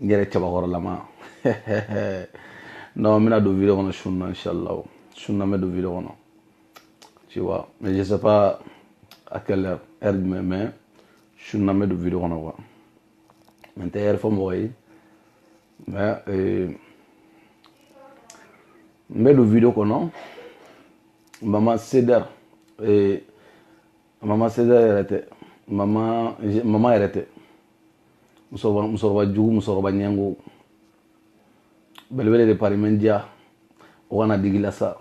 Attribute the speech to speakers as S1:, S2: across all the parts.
S1: n yɛrɛ cɛbakɔrɔlama non n bɛna don video kɔnɔ sun na inshallah sun na n bɛ don video kɔnɔ tu vois mais je sais pas à quelle heure heure jumɛn mais sun na n bɛ don video kɔnɔ quoi mais n tɛ heure fɔ mɔgɔ ye mais euh, n bɛ don video kɔnɔ mama sedar eh, mama sedar yɛrɛ tɛ mama mama yɛrɛ tɛ musokɔrɔba musokɔrɔba jugu musokɔrɔba ɲɛngo belebele de pari mɛ n diya o kana digi la sa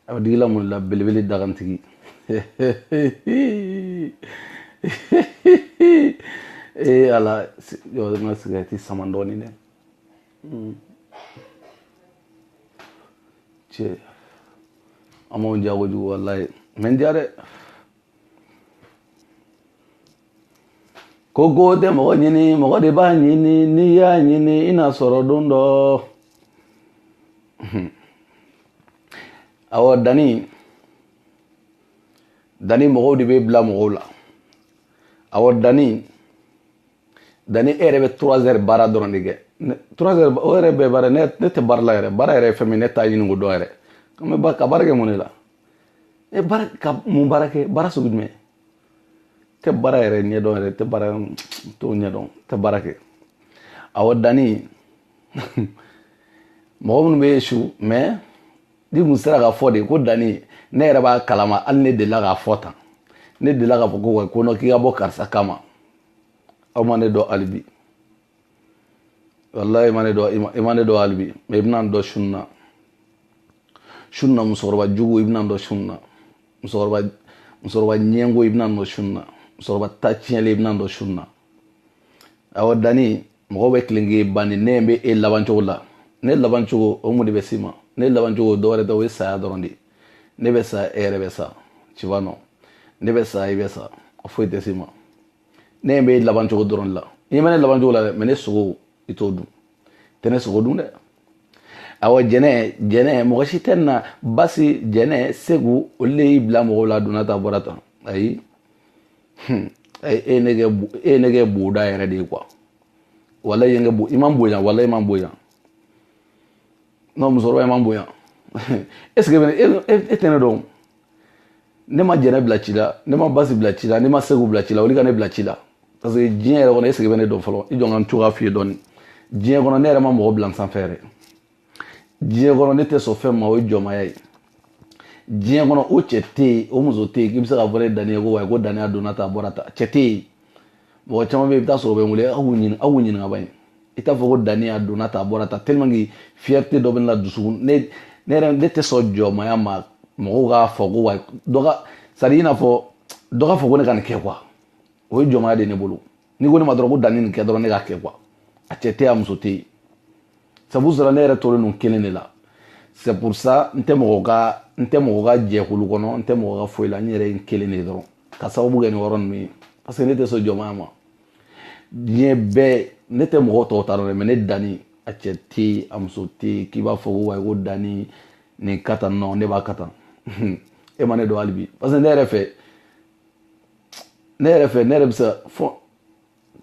S1: a bɛ digi la mun la belebele dagantigi ee ala jɔ n ka sigɛrɛti sama dɔɔnin dɛ hmm. cɛ an b'anw diya kojugu walayi mɛ n diya dɛ koko tɛ mɔgɔ ɲini mɔgɔ de b'a ɲini n'i y'a ɲini i n'a sɔrɔ don dɔ awɔ dani dani mɔgɔw de b'e bila mɔgɔw la awɔ dani dani e yɛrɛ bɛ trois heures baara dɔrɔn de kɛ trois heures o yɛrɛ bɛɛ baara ne ne tɛ baara la yɛrɛ baara yɛrɛ ye fɛn min ne t'a ɲini k'o dɔn yɛrɛ ka baara kɛ mun de la e baara ka mun baara kɛ baara sugu jumɛn tɛ baara yɛrɛ ɲɛdɔn yɛrɛ tɛ baara t'o ɲɛdɔn tɛ baara kɛ awɔ dani mɔgɔ minnu b'e su mais ni kun sera k'a fɔ de ko dani ne yɛrɛ b'a kalama hali ne delila k'a fɔ tan ne delila k'a fɔ ko non ko k'i ka bɔ karisa kama aw ma ne dɔn hali bi wallahi i ma ne dɔn i ma ne dɔn hali bi mais i bɛna n dɔn sun na sun na musokɔrɔba jugu i bɛna n dɔn sun na musokɔrɔba musokɔrɔba ɲɛngo i bɛna n dɔn sun na musokɔrɔba ta tiɲɛlen i bɛna n dɔn sun na awɔ dani mɔgɔw bɛ tilen k'e bani ne bɛ e laban cogo la ne laban cogo o mun de bɛ s'i ma ne laban cogo dɔwɛrɛ tɛ o ye saya dɔrɔn de ye ne bɛ sa e yɛrɛ bɛ sa tu vois non ne bɛ sa i bɛ sa foyi tɛ s'i ma ne ɲɛ b'e laban cogo dɔrɔn de la i ɲɛ bɛ ne laban cogo la dɛ mais ne sogo i t'o dun tɛ ne sogo dun dɛ awɔ jɛnɛ jɛnɛ mɔgɔ si tɛ na basi jɛnɛ segu olu de y'i bila mɔgɔw la donna tan bɔra tan ayi hmm. e ye ne kɛ e ye ne kɛ boda yɛrɛ de ye quoi wallahi i ye n kɛ bo i ma n bonya wallahi i ma n bonya non musokɔrɔba i ma n bonya est ce que e tɛ ne dɔn ne ma jɛnɛ bila ci la ne ma basi bila ci la ne ma segu bila ci la olu ka ne bila ci la parce que diɲɛ yɛrɛ kɔnɔ est ce que i bɛ ne dɔn fɔlɔ i jɔ n ka n cogoya f'i ye dɔɔni diɲɛ kɔnɔ ne yɛrɛ ma mɔgɔ bila n sanfɛ yɛrɛ diɲɛ kɔnɔ ne tɛ sɔn fɛn ma o ye jɔnmaya ye diɲɛ kɔnɔ o cɛ tɛ yen o muso tɛ yen k'i bɛ se k'a fɔ ne dani ye ko wayi ko dani a donna tan a bɔra tan cɛ tɛ yen mɔgɔ caman bɛ yen i bɛ taa sɔrɔ u bɛ n wele aw ɲininka aw ɲininka ban i t'a fɔ ko dani a donna ta a bɔra ta tellement que fierté dɔ bɛ ne la dusukun ne ne yɛrɛ ne tɛ sɔn jɔnmaya ma mɔgɔw k'a fɔ ko wa dɔ ka c'est à dire i n'a fɔ dɔ k'a fɔ ko ne ka nin kɛ quoi o ye jɔnmaya de ye ne bolo n'i ko ne ma dɔrɔn ko dani nin kɛ dɔrɔn ne k'a kɛ quoi a cɛ tɛ yen a muso tɛ yen c'est pour cela ne yɛrɛ tolen don kelen de la c'est pour ça n tɛ mɔgɔ ka n tɛ mɔgɔ ka jɛkulu kɔnɔ n tɛ mɔgɔ ka foyi la n yɛrɛ ye n kelen de dɔrɔn ka sababu kɛ nin yɔrɔ ninnu ye parce que ne tɛ sɔn jɔnmaya ma diɲɛ bɛɛ ne tɛ mɔgɔ tɔw ta dɔn dɛ mais ne dani a cɛ tɛ yen a muso tɛ yen k'i b'a fɔ ko wayi ko dani nin kɛ tan non ne b'a kɛ tan e ma ne dɔn hali bi parce que ne yɛrɛ fɛ ne yɛrɛ fɛ ne yɛrɛ bɛ se fɔ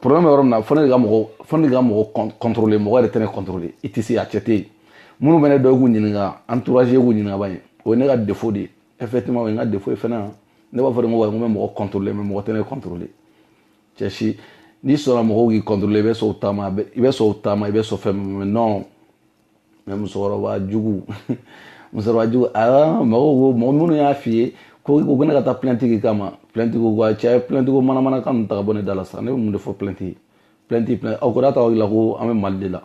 S1: problème yɔrɔ min na fo ne de ka mɔgɔ fo ne de ka mɔgɔ contrôler mɔgɔ yɛrɛ tɛ ne contrôler i tɛ se a cɛ tɛ yen minnu bɛ ne dɔn i k'u ɲininka entourage k'u ɲininka ban ye o ye ne ka défaut de ye effectivement o ye n ka défaut ye fana ne b'a fɔ de ko wa n bɛ mɔgɔ contrôler mais mɔgɔ tɛ ne contrôler cɛ si n'i sɔnna mɔgɔw k'i contrôler i bɛ sɔn u ta ma i bɛ sɔn u ta ma i bɛ sɔn fɛn min ma non mais musokɔrɔba jugu musokɔrɔba jugu aa mɔgɔw ko mɔgɔ minnu y'a f'i ye ko ne ka taa plainte k'i kama plainte ko a cɛ plainte ko manamana kan ninnu ta ka bɔ ne da la sa ne bɛ mun de fɔ plainte plainte plainte aw ko n'a ta aw la ko an bɛ mali de la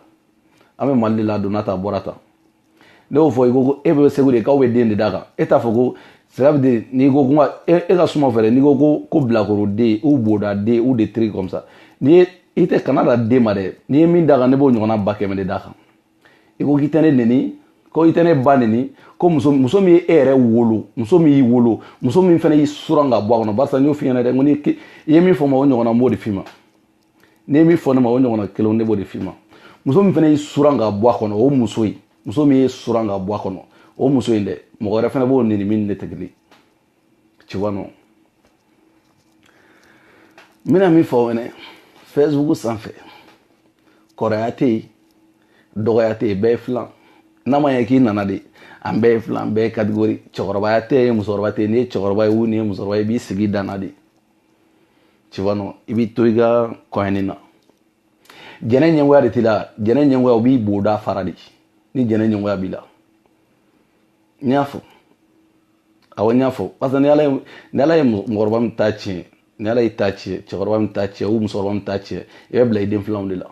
S1: an bɛ mali de la donna ta bɔra ta ne y'o fɔ i ko ko e bɛ segu de k'aw bɛ den de d'a kan e t'a fɔ ko cela veut dire n'i ko kuma e, e ka suma fɛ dɛ n'i ko ko ko bilakoroden ou bodaden ou des trucs comme ça n'i ye i tɛ ka na dan den ma dɛ n'i ye min d'a kan ne b'o ɲɔgɔnna ba kɛmɛ de d'a kan i ko k'i tɛ ne neni ko i tɛ ne ba neni ko muso muso min ye e yɛrɛ wolo muso min y'i wolo muso min fana y'i suran ka bɔ a kɔnɔ barisa n y'o f'i ɲɛna dɛ n ko n'i i ye min fɔ n ma o ɲɔgɔnna n b'o de f'i ma n'i ye min fɔ ne ma o ɲɔgɔnna kelen ne b'o de f'i ma muso min fana y'i suran ka bɔ a kɔnɔ o muso in muso min y'i suran ka bɔ a kɔnɔ o muso in dɛ mɔgɔ wɛrɛ fana b'o neni min ne tɛ kelen tu vois non n bɛna min fɔ fɛnɛ facebook sanfɛ kɔrɔya tɛ yen dɔgɔya tɛ yen bɛɛ ye filan n'a ma ɲɛ k'i nana de an bɛɛ ye filan bɛɛ ye catégorie cɛkɔrɔbaya tɛ yen musokɔrɔba tɛ yen n'i ye cɛkɔrɔba ye ou n'i ye musokɔrɔba ye i b'i sigi dan na de tu vois non i b'i to i ka coin nin na jeune ɲɛngoya de t'i la jeune ɲɛngoya o b'i boda fara de ni jeune ɲɛngoya b'i la n y'a fɔ awɔ n y'a fɔ parce que ni ala ye ni ala ye mɔgɔkɔrɔba min ta tiɲɛ ni ala y'i ta tiɲɛ cɛkɔrɔba min ta tiɲɛ ou musokɔrɔba min ta tiɲɛ i bɛ bila i den filanw de la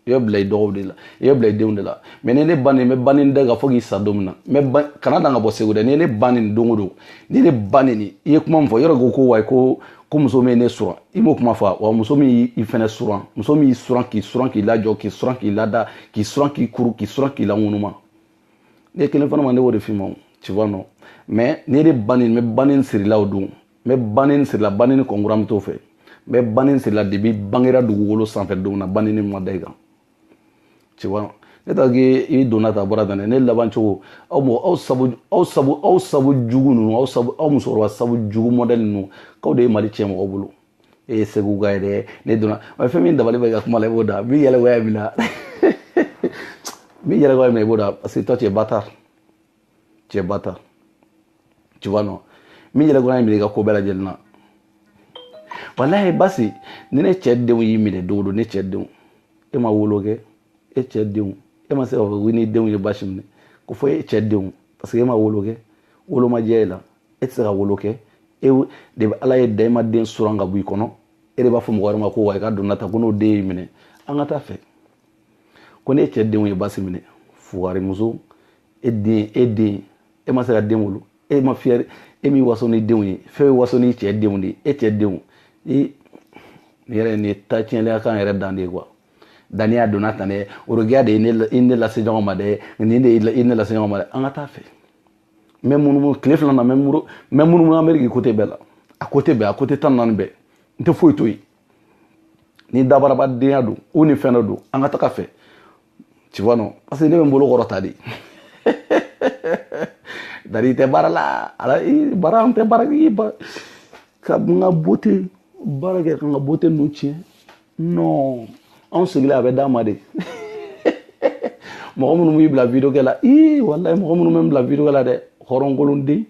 S1: i bɛ bila i dɔgɔw de la i bɛ bila i denw de la mais n'i ne ba neni n b'i ba neni da ka fɔ k'i sa don min na n bɛ ba kana dan ka bɔ segu dɛ n'i ne ba neni don o don n'i ne ba neni i ye kuma min fɔ yɔrɔ ko ko wayi ko ko muso min ye ne suran i m'o kuma fɔ wa muso min y'i fɛnɛ suran muso min y'i suran k'i suran k'i lajɔ k'i suran k'i lada k'i suran k'i kuru k'i suran k'i laŋunuma n'i ye kelen fɔ ne ma ne b'o de f'i ma o tu vois non mais n'i ne ba neni n b'i ba neni sirilaw don n bɛ baneni siri i la baneni kɔnkura min t'o fɛ n bɛ baneni siri i la depuis i bangera dugukolo sanfɛ don na baneni ma da i kan tu vois ne ta k'i i donna ta bɔra tan dɛ ne laban cogo aw mɔgɔ aw sabu aw sabu aw sabu jugu ninnu aw sabu aw musokɔrɔba sabu jugu mɔdɛli ninnu k'aw de ye mali tiɲɛ mɔgɔw bolo e ye segu ka ye dɛ ne donna mais fɛn min dabali bɛ ka kuma la i boda min yɛlɛgoya min na min yɛlɛgoya min na i boda parce que toi tu es bâtard t'es bâtard tu vois non min yɛrɛ kɔnɔ ye minɛ i ka ko bɛɛ lajɛlen na walayi basi ni ne cɛ denw y'i minɛ don o don ne cɛ denw e ma wolo kɛ e cɛ denw e ma se k'a fɔ ko n'i denw ye basi minɛ ko fɔ e cɛ denw parce que e ma wolo kɛ wolo ma diya e la e tɛ se ka wolo kɛ e de bɛ ala y'e da e ma den suran ka bɔ i kɔnɔ e de b'a fɔ mɔgɔ wɛrɛ ma ko wa i ka donna ta ko n'o den y'i minɛ an ka taa fɛ ko ne cɛ denw ye basi minɛ fugarimuso e den e den e ma se ka den wolo e ma fiyɛ e min waso n'i denw ye fɛn bɛ waso ni cɛ denw de e cɛ denw i nin yɛrɛ nin ye ta tiɲɛlenya kan yɛrɛ dan de ye quoi daniya donna tan dɛ orokiya de ye ne lase ɲɔgɔn ma dɛ nin de ye ne lase ɲɔgɔn ma dɛ an ka taa fɛ n bɛ munumunu tile fila na n bɛ munumunu ameriki côté bɛɛ la a côté bɛɛ a côté tan naani bɛɛ n tɛ foyi to yen ni dabarabadenya don ou ni fɛn dɔ don an ka taga fɛ tu vois non parce que ne bɛ n bolo kɔrɔta de d'ailleurs n tɛ baara la ala baara n tɛ baara kɛ ka n ka beauté baara kɛ ka n ka beauté ninnu tiɲɛ non anw sigilen a bɛ d'an ma de mɔgɔ minnu bɛ n bila video kɛ la ii walayi mɔgɔ minnu bɛ n bila video kɛ la dɛ hɔrɔnkolonden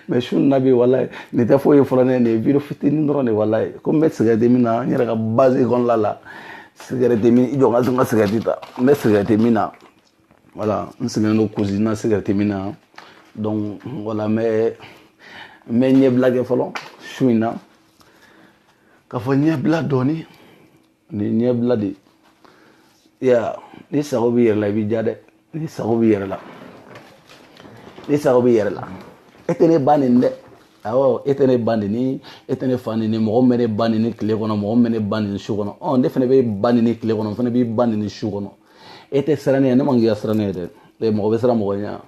S1: mais su na bi voilà nin tɛ foyi ye fɔlɔ ne nin ye video fitinin dɔrɔn de walayi ko n bɛ sigɛrɛti min na n yɛrɛ ka base kɔnɔla la sigɛrɛti min i jɔ ka n ka sigɛrɛti ta n bɛ sigɛrɛti min na voilà n sigilen don cuisine na sigɛrɛti min na donc voilà n bɛ n bɛ ɲɛbila kɛ fɔlɔ su in na k'a fɔ ɲɛbila dɔɔni nin ɲɛbila de ye n'i sago b'i yɛrɛ la i b'i ja dɛ n'i sago b'i yɛrɛ la n'i sago b'i yɛrɛ la e tɛ ne ba neni dɛ awɔ e tɛ ne ba neni e tɛ ne fa neni mɔgɔ min bɛ ne ba neni tile kɔnɔ mɔgɔ min bɛ ne ba neni su kɔnɔ ɔ ne fana b'i ba neni tile kɔnɔ n fana b'i ba neni su kɔnɔ e tɛ siran ne ɲɛ ne ma n k'i ka siran ne ɲɛ dɛ mɔgɔ bɛ siran mɔgɔ ɲɛ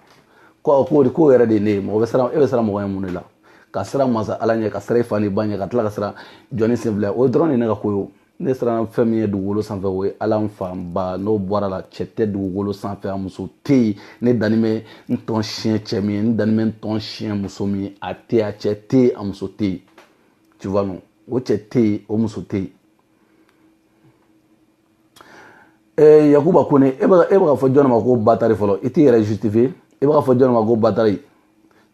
S1: ko k'o de k'o yɛrɛ de ye ne ye mɔgɔ bɛ siran e bɛ siran mɔgɔ ɲɛ mun de la ka siran masa ala ɲɛ ka siran i fa n'i ba ɲɛ ka tila ka siran jɔnnin senfila o dɔrɔn de ne ka ko ye ne siranna fɛn min ɲɛ dugukolo sanfɛ o ye ala n fa n ba n'o bɔra la cɛ tɛ dugukolo sanfɛ a muso tɛ yen ne danni bɛ n tɔn siɲɛ cɛ min ye ne danni bɛ n tɔn siɲɛ muso min ye a tɛ a cɛ tɛ yen a muso tɛ yen tu vois non o cɛ tɛ yen o muso tɛ yen ɛɛ yakuba kone e bɛ e bɛ k'a fɔ jɔn ma ko batari fɔlɔ i t'i yɛrɛ justifier e bɛ k'a fɔ jɔn ma ko batari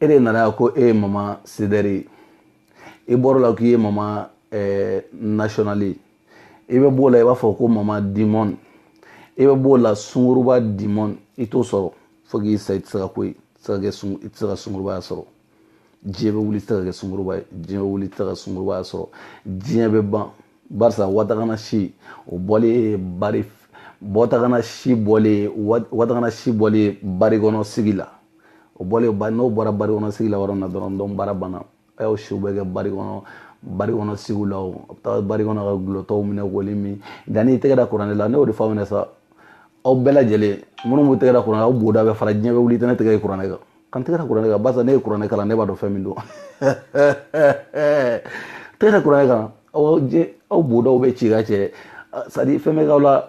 S1: e de nana yan ko e ye mama sedɛri ye i bɔr'o la k'i ye mama eh, national ye i bɛ b'o la i b'a fɔ ko mama dimɔn i bɛ b'o la sunguruba dimɔn i t'o sɔrɔ fo k'i sa i tɛ se ka ko ye i tɛ se ka sungurubaya sɔrɔ diɲɛ bɛ wuli i tɛ se ka kɛ sunguruba ye diɲɛ bɛ wuli i tɛ se ka sungurubaya sɔrɔ diɲɛ bɛ ban barisa watagana si o bɔlen ye bari watagana si bɔlen ye watagana si bɔlen ye bari kɔnɔ sigi la o bɔlen ba n'o bɔra bari kɔnɔ sigi la yɔrɔ min na dɔrɔn donc baara banna a y'aw siw bɛɛ kɛ bari kɔnɔ bari kɔnɔ sigiw la o a bɛ taa bari kɔnɔ ka gulɔtɔw minɛ k'olu min nka n'i tɛgɛ da kuranɛ la ne y'o de fɔ aw ɲɛna sa aw bɛɛ lajɛlen minnu b'u tɛgɛ da kuranɛ aw boda bɛ fara diɲɛ bɛ wuli i tɛ ne tɛgɛ ye kuranɛ kan ka n tɛgɛ da kuranɛ kan barisa ne ye kuranɛ kalan ne b'a dɔn fɛn min don tɛgɛ da kuranɛ kan aw aw bodaw bɛ ci ka cɛ c'est à dire fɛn bɛ k'aw la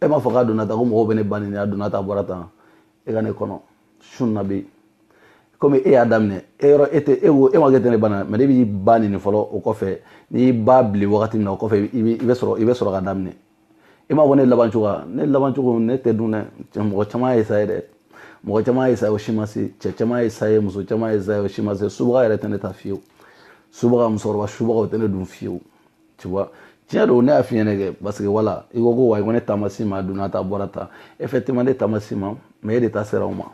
S1: e m'a fɔ k'a donna tan ko mɔgɔw bɛ ne ba neni a donna tan bɔra tan e ka ne kɔnɔ sun na bi komi e y'a daminɛ e yɔrɔ e tɛ e wo e ma kɛ tɛ ne ba na mais ne b'i ba neni fɔlɔ o kɔfɛ n'i ba bili wagati min na o kɔfɛ i bɛ sɔrɔ i bɛ sɔrɔ ka daminɛ e m'a fɔ ne laban cogoya ne laban cogo ne tɛ dun dɛ mɔgɔ caman y'a essayer dɛ mɔgɔ caman y'a essayer o si ma se cɛ caman y'a essayer muso caman y'a essayer o si ma se subaga yɛrɛ tɛ ne ta fiyewu subaga musokɔrɔba subaga o tɛ ne dun fiyewu tu vois tiɲɛ don ne y'a f'i ɲɛna kɛ parce que wala i ko ko wa i ko ne ta ma s'i ma a donna tan bɔra tan effectivement ne ta ma s'i ma mais e de ta sera o ma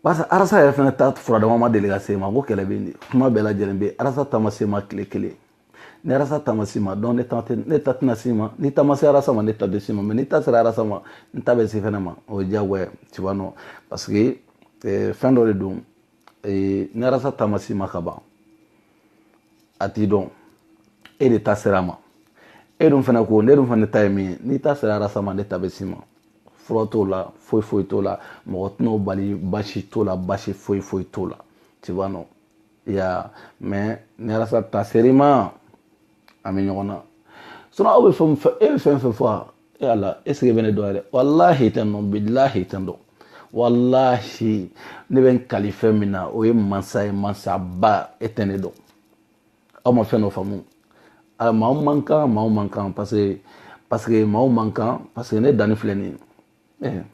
S1: parce que arasa yɛrɛ fana ta furadama ma deli ka s'e ma ko kɛlɛ bɛ nin kuma bɛɛ lajɛlen bɛ arasa ta ma s'e ma tile kelen ni arasa ta ma s'i ma donc ne ta tɛ ne ta tɛna s'i ma n'i ta ma se arasa ma ne ta tɛ s'i ma mais n'i ta sera arasa ma n ta bɛ s'e fana ma o ye diyagoya tu vois non parce que fɛn dɔ de don ee, n'arasa ta ma s'i ma ka ban a t'i dɔn e de ta sera a ma e dun fana ko ne dun fana ta ye min ye n'i ta sera arasa ma ne ta bɛ s'i ma fura t'o la foyi foyi t'o la mɔgɔ tɛn'o bali basi t'o la basi foyi foyi t'o la tu vois non mais ni arasa ta ser'i ma an bɛ ɲɔgɔn na sinon aw bɛ fɛn e bɛ fɛn fɛn fɔ e ala est ce que e bɛ ne dɔn yɛrɛ walahi i tɛ n dɔn bilahi i tɛ n dɔn walahi ne bɛ n kali fɛn min na o ye mansa ye mansaba e tɛ ne dɔn aw ma fɛn dɔ faamu a maaw man kan maaw man kan parce que parce que maaw man kan parce que ne danni filɛ nin ye eh.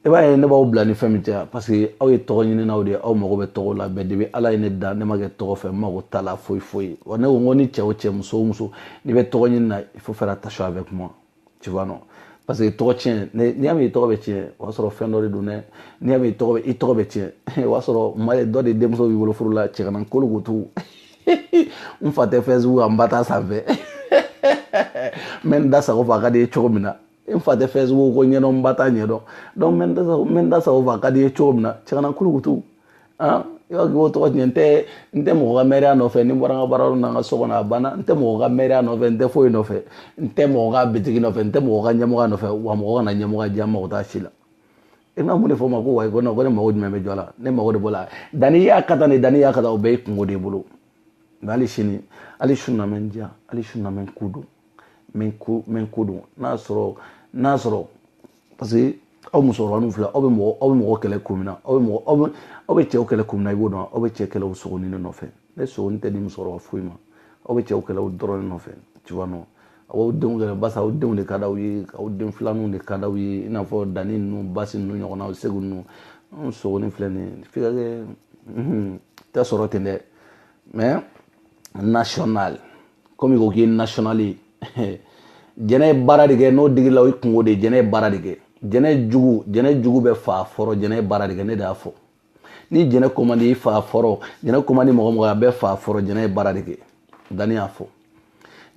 S1: i b'a ye ne b'aw bila ni fɛn min cɛ parce que aw ye tɔgɔ ɲininaw de ye aw mago bɛ tɔgɔ la bɛɛ depuis ala ye ne da ne ma kɛ tɔgɔ fɛ n mago t'a la foyi foyi wa ne ko n ko ni cɛ o cɛ muso o muso n'i bɛ tɔgɔ ɲini na il faut faire attention avec moi tu vois non parce que tɔgɔ tiɲɛ n'i y'a mɛn i tɔgɔ bɛ tiɲɛ o y'a sɔrɔ fɛn dɔ de don dɛ n'i y'a mɛn i tɔgɔ bɛ i tɔgɔ bɛ tiɲɛ o y'a sɔrɔ maa dɔ de denmuso b'i bolo furu la cɛganan kolokoto n fa tɛ Facebook kan n ba t'a sanfɛ n bɛ n da sago fɔ a ka di n ye cogo min na n fa tɛ Facebook ko ɲɛdɔn n ba t'a ɲɛdɔn donc n bɛ n da sago fɔ a ka di ye cogo min na cɛ kana kulukutu ah i b'a k'o tɔgɔ tiɲɛ n tɛ n tɛ mɔgɔ ka mɛriya nɔfɛ ni n bɔra n ka baaraw na n ka so kɔnɔ a banna n tɛ mɔgɔ ka mɛriya nɔfɛ n tɛ foyi nɔfɛ n tɛ mɔgɔ ka bitigi nɔfɛ n tɛ mɔgɔ ka ɲɛmɔgɔ nɔfɛ wa mɔgɔ kana ɲɛmɔgɔ diya n mago t'a si la i bɛna mun de fɔ o ma ko wayi ko nɔ ko ne mago jumɛn bɛ jɔ a la ne mago de b'o la danni y'a kɛ tan ni danni y'a kɛ tan o bɛɛ y'i kunko de bolo nka hali sini hali su na mɛ n diya hali su na mɛ n ko don min ko min ko don n'a sɔrɔ n'a sɔrɔ parce que aw musokɔrɔba ninnu filɛ aw bɛ mɔgɔ aw bɛ mɔgɔ kɛlɛ kun min na aw bɛ mɔgɔ aw bɛ aw bɛ cɛw kɛlɛ kun min na i b'o dɔn aw bɛ cɛ kɛlɛ o sogonin de nɔfɛ ne sogonin tɛ di musokɔrɔba foyi ma aw bɛ cɛw kɛlɛ o dɔrɔn de nɔfɛ tu vois non aw denw kɛlɛ basa aw denw de ka d'aw ye aw den filaninw de ka d'aw ye i n'a fɔ danni ninnu basi ninnu ɲɔgɔnnaw segu ninnu anw sogonin filɛ nin ye f'i ka kɛ tɛ sɔrɔ ten dɛ mais national komi i ko k'i ye national ye jɛnɛ ye baara de kɛ n'o digi i la o y'i kunko de ye jɛnɛ ye baara de kɛ jɛnɛ jugu jɛnɛ jugu bɛɛ fa fɔrɔ jɛnɛ ye baara de kɛ ne de y'a fɔ ni jɛnɛ ko man di i fa fɔrɔ jɛnɛ ko man di mɔgɔ mɔgɔ a bɛɛ fa fɔrɔ jɛnɛ ye baara de kɛ danni y'a fɔ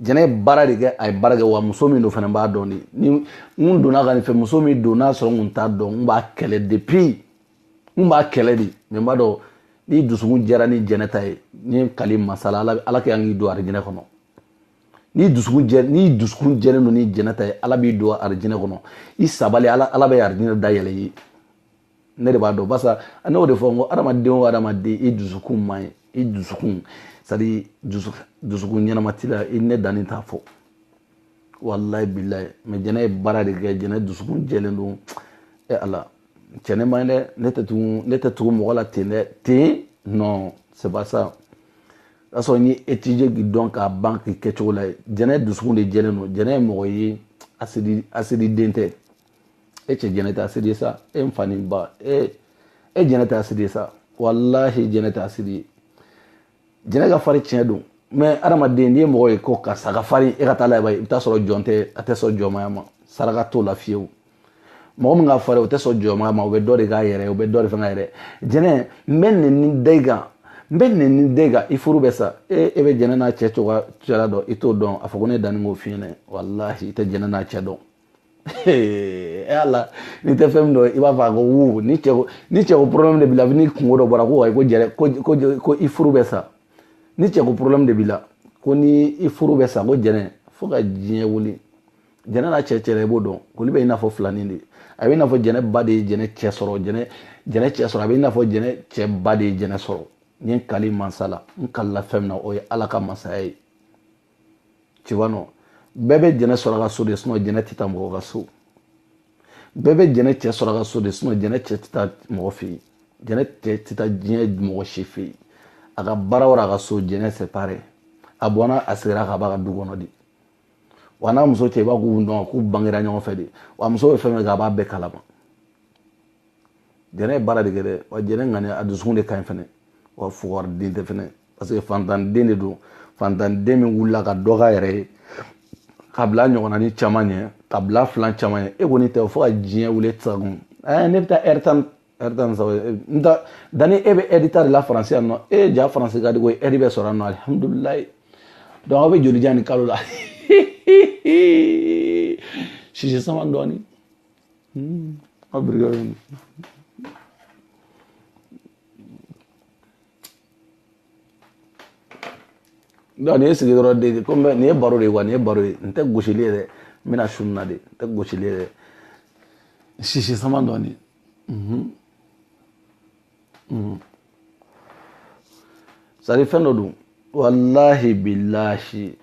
S1: jɛnɛ ye baara de kɛ a ye baara kɛ wa muso min don fana b'a dɔn de ni n donna ka nin fɛ muso min don n'a sɔrɔ n kun t'a dɔn n b'a kɛlɛ depuis n b'a kɛlɛ de mais n b'a dɔn n'i dusukun jɛra ni jɛnɛ ta ye n ye n kali mansa la ala ala kɛ an k'i don arijinɛ kɔnɔ n'i dusukun jɛ n'i dusukun jɛlen don ni jɛnɛ ta ye ala b'i don arijinɛ kɔnɔ i sabali ala ala bɛ arijinɛ da yɛlɛ i ye ne de b'a dɔn barisa ne y'o de fɔ n ko adamaden o adamaden i dusukun man ɲi i dusukun c'est à dire dusukun ɲɛnama t'i la i ne danni t'a fɔ walayi bilayi mais jɛnɛ ye baara de kɛ jɛnɛ dusukun jɛlen don e ala cɛ ne man ɲi dɛ ne tɛ tugu ne tɛ tugu mɔgɔ la ten dɛ ten non c'est pas ça k'a sɔrɔ n y'i étudier k'i dɔn k'a ban k'i kɛcogo lajɛ jɛnɛ dusukun de jɛlen don jɛnɛ ye mɔgɔ ye asidi asidi den tɛ e cɛ jɛnɛ tɛ asidi ye sa e n fa ni ba e e jɛnɛ tɛ asidi ye sa walahi jɛnɛ tɛ asidi ye jɛnɛ ka fari tiɲɛ don mais adamaden n'i ye mɔgɔ ye ko karisa ka fari e ka taa lajɛ i bɛ taa sɔrɔ jɔn tɛ a tɛ sɔn jɔnmaya ma saraka t'o la fiyewu mɔgɔ min ka fari o tɛ sɔn jɔnmaya ma o bɛ dɔ de k'a yɛrɛ o bɛ dɔ de fɛn k'a yɛrɛ jɛnɛ n bɛ nɛnini da i kan n bɛ nɛnini da i kan i furu bɛ sa e e bɛ jɛnɛ n'a cɛ cogoya cɛla dɔn i t'o dɔn a fɔ ko ne danni k'o f'i ɲɛ dɛ walahi i tɛ jɛnɛ n'a cɛ dɔn e ala n'i tɛ fɛn min dɔn i b'a fɔ a ko wo ni cɛ ko ni cɛ ko problème de b'i la ni kunko dɔ bɔra ko ayi ko jɛnɛ ko ko ko i furu bɛ sa ni cɛ ko problème de b'i la ko ni i furu bɛ sa ko jɛnɛ fo ka diɲɛ wuli jɛnɛ n'a cɛ cɛla i b'o dɔn olu bɛ i n'a fɔ filanin de a bɛ i n'a fɔ jɛnɛ ba de ye jɛnɛ cɛ sɔrɔ jɛnɛ jɛnɛ cɛ sɔrɔ a bɛ i n'a fɔ jɛnɛ cɛ ba de ye jɛnɛ sɔrɔ n ye n kali mansa la n kalila fɛn min na o ye ala ka masaya ye tu vois non bɛɛ bɛ jɛnɛ sɔrɔ a ka so de sinon jɛnɛ tɛ taa mɔgɔ ka so bɛɛ bɛ jɛnɛ cɛ sɔrɔ a ka so de sinon jɛnɛ cɛ tɛ taa mɔgɔ fɛ yen jɛnɛ cɛ tɛ taa diɲɛ mɔgɔ si fɛ yen a ka baara wɛrɛ a ka so jɛnɛ c'est pareil a bɔnna a seginna ka b'a ka du kɔnɔ de wa n'a muso cɛ i b'a k'u dɔn k'u bangera ɲɔgɔn fɛ de wa muso bɛ fɛn fɛn kɛ a b'a bɛɛ kalama jɛnɛ ye baara de kɛ dɛ wa jɛnɛ ŋaniya a dusukun de ka ɲi fɛnɛ wa fugari den tɛ fɛnɛ parce que fantanden de don fantanden min wulila ka dɔ k'a yɛrɛ ye ka bila ɲɔgɔnna ni caman ɲɛ ka bila filan caman ɲɛ e kɔni tɛ fo ka diɲɛ wuli tɛ se kun ɛɛ ne bɛ taa aide ta aide tan ni saba n ta danni e bɛ aide ta de la faransi yan nɔ e ja faransi ka di ko aide bɛ sɔrɔ yan nɔ alihamudulilayi donc aw bɛ joli jan nin kalo la sisi sama dɔɔnin aw birikɛ donc nin ye sigi dɔrɔn de ko nin ye baro de ye wa nin ye baro ye n tɛ gosili ye dɛ n bɛna sun na de n tɛ gosili ye dɛ sisi sama dɔɔni c'est à dire fɛn dɔ don walahi bilahi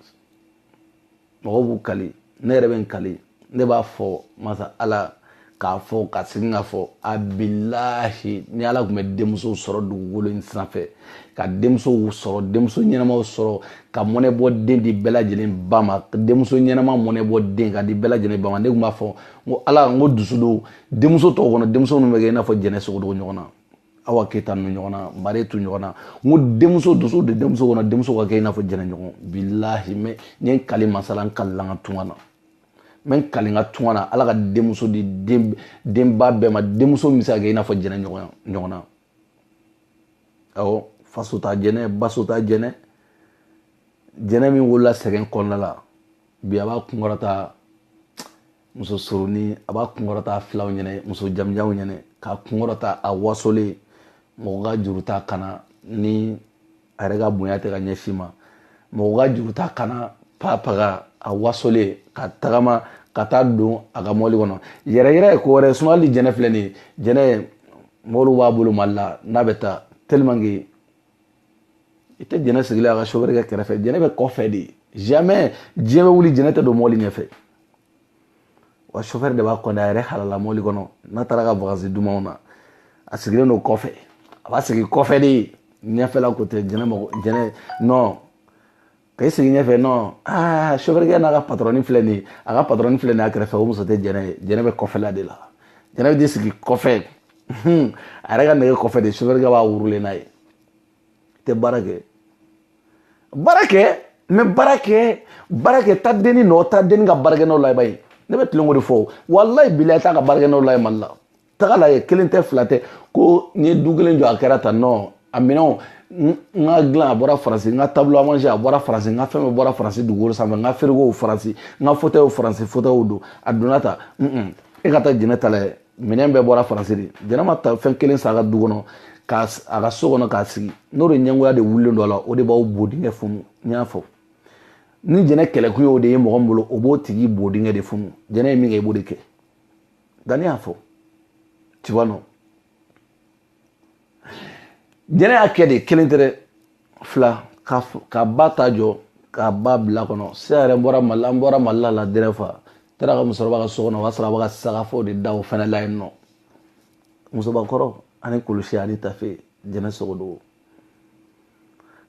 S1: mɔgɔw b'u kali ne yɛrɛ bɛ n kali ne b'a fɔ masa ala k'a fɔ ka segin k'a fɔ a bilahi ni ala tun bɛ denmusow sɔrɔ dugukolo in sanfɛ ka denmusow sɔrɔ denmuso ɲɛnamaw sɔrɔ ka mɔnɛ bɔ den di bɛɛ lajɛlen ba ma denmuso ɲɛnama mɔnɛ bɔ den ka di bɛɛ lajɛlen ba ma ne tun b'a fɔ n ko ala n ko dusu don denmuso tɔw kɔnɔ denmuso minnu bɛ kɛ i n'a fɔ jɛnɛ sogodogo ɲɔgɔn na awa keyita nu ɲɔgɔn na maretu ɲɔgɔn na n ko denmuso dusu de denmuso kɔnɔ denmuso ka kɛ i n'a fɔ jɛnɛ ɲɔgɔn bilahi mɛ n ye n kali masa ala n kalila n ka tunga na n bɛ n kali n ka tunga na ala ka denmuso di denba bɛɛ ma denmuso min bɛ se ka kɛ i n'a fɔ jɛnɛ ɲɔgɔn na awɔ faso ta jɛnɛ baso ta jɛnɛ jɛnɛ min wolola sɛgɛn kɔnɔna la bi a b'a kunkɔrɔta muso surunin a b'a kunkɔrɔta filaw ɲɛnɛ muso jamujanw ɲɛnɛ k'a kunkɔrɔta a wasolen mɔgɔ ka juru t'a kan na ni a yɛrɛ ka bonya tɛ ka ɲɛsin ma mɔgɔ ka juru t'a kan na papaga a wasolen ka tagama ka taa don a ka mɔbili kɔnɔ yɛrɛ yɛrɛ ye ko wɛrɛ sinon hali jɛnɛ filɛ nin ye jɛnɛ mɔbiliw b'a bolo mali la n'a bɛ taa tellement que i tɛ jɛnɛ sigilen a ka sofɛri kɛ kɛrɛfɛ jɛnɛ bɛ kɔfɛ de jamais diɲɛ bɛ wuli jɛnɛ tɛ don mɔbili ɲɛfɛ wa sofɛri de b'a kɔnɔ a yɛrɛ halala mɔbili kɔnɔ n'a taara ka vacances dumanw na a sigilen don kɔfɛ a b'a sigi kɔfɛ de ɲɛfɛla ko tɛ jɛnɛ mɔgɔ jɛnɛ non ka i sigi ɲɛfɛ non aa sofɛrikɛ n'a ka patɔrɔni filɛ nin ye a ka patɔrɔni filɛ nin ye a kɛrɛfɛ o muso tɛ jɛnɛ ye jɛnɛ bɛ kɔfɛla de la jɛnɛ bɛ t'i sigi kɔfɛ a yɛrɛ ka nɛgɛ kɔfɛ de sofɛrikɛ b'a wurulen n'a ye tɛ baara kɛ baara kɛ mais baara kɛ baara kɛ taa denni nɔ taa denni ka baarakɛ nɔ la i b'a ye ne bɛ tilen k'o de fɔ walayi bilayi taa ka baarakɛ nɔ lajɛ mali la taga lajɛ kelen tɛ fila tɛ ko n ye du kelen jɔ a kɛra tan non a minɛnw n ka dilan a bɔra faransi n ka table à manger a bɔra faransi n ka fɛn bɛɛ bɔra faransi dugukolo sanfɛ n ka firigow faransi n ka fotɛw faransi fotɛw don a donna ta e ka taa jɛnɛ ta lajɛ minɛn bɛɛ bɔra faransi de jɛnɛ ma ta fɛn kelen san a ka du kɔnɔ ka a ka so kɔnɔ k'a sigi n'o de ɲɛngoya de wulilen don a la o de b'aw bo dingɛ funu n y'a fɔ ni jɛnɛ kɛlɛkun y'o de ye mɔgɔ min bolo o b'o tigi bo dingɛ de funu jɛnɛ ye min kɛ i b'o de kɛ danni y'a fɔ tu vois non jɛnɛ y'a kɛ de kelen tɛ dɛ fila k'a ba ta jɔ k'a ba bila kɔnɔ siya yɛrɛ bɔra mali an bɔra mali la la dɛrɛ fa taara ka musokɔrɔba ka so kɔnɔ o y'a sɔrɔ a bɛ ka sagafo de da o fɛnɛ la yen nɔ musobakɔrɔ ani kulusi ani tafe jɛnɛ sogodogo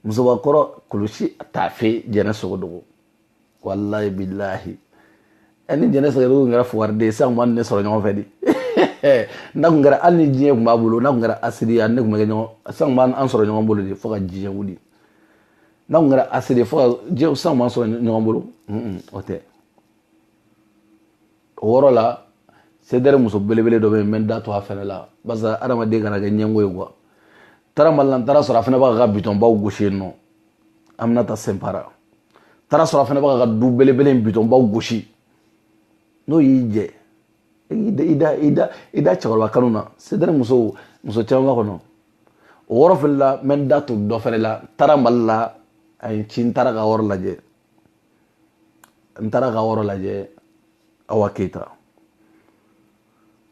S1: musobakɔrɔ kulusi tafe jɛnɛ sogodogo wallahi billahi ɛ ni jɛnɛ sogodogo tun kɛra fugariden sisan tun b'a ni ne sɔrɔ ɲɔgɔn fɛ de n'a tun kɛra hali ni diɲɛ tun b'a bolo n'a tun kɛra asiri ye ne tun bɛ kɛ ɲɔgɔn sisan tun b'an sɔrɔ ɲɔgɔn bolo de fo ka diɲɛ wuli n'a tun kɛra asiri ye fo ka diɲɛ sisan tun b'an sɔrɔ ɲɔgɔn bolo o tɛ o yɔrɔ la sedɛri muso belebele dɔ bɛ yen n bɛ n da to a fɛnɛ la barisa adamaden kana kɛ ɲɛngo ye quoi taara mali la n taara sɔrɔ a fana b'a ka bitɔnbaw gosi yen nɔ aminata sɛnpara taara sɔrɔ a fana b'a ka du belebele in bitɔnbaw gosi n'o y'i jɛ i da i da i da i da cɛkɔrɔba kanu na sedɛri muso muso caman b'a kɔnɔ o yɔrɔ fɛnɛ la n bɛ n da to dɔ fɛnɛ la n taara mali la a ye n ci n taara ka yɔrɔ lajɛ n taara ka yɔrɔ lajɛ awa keyita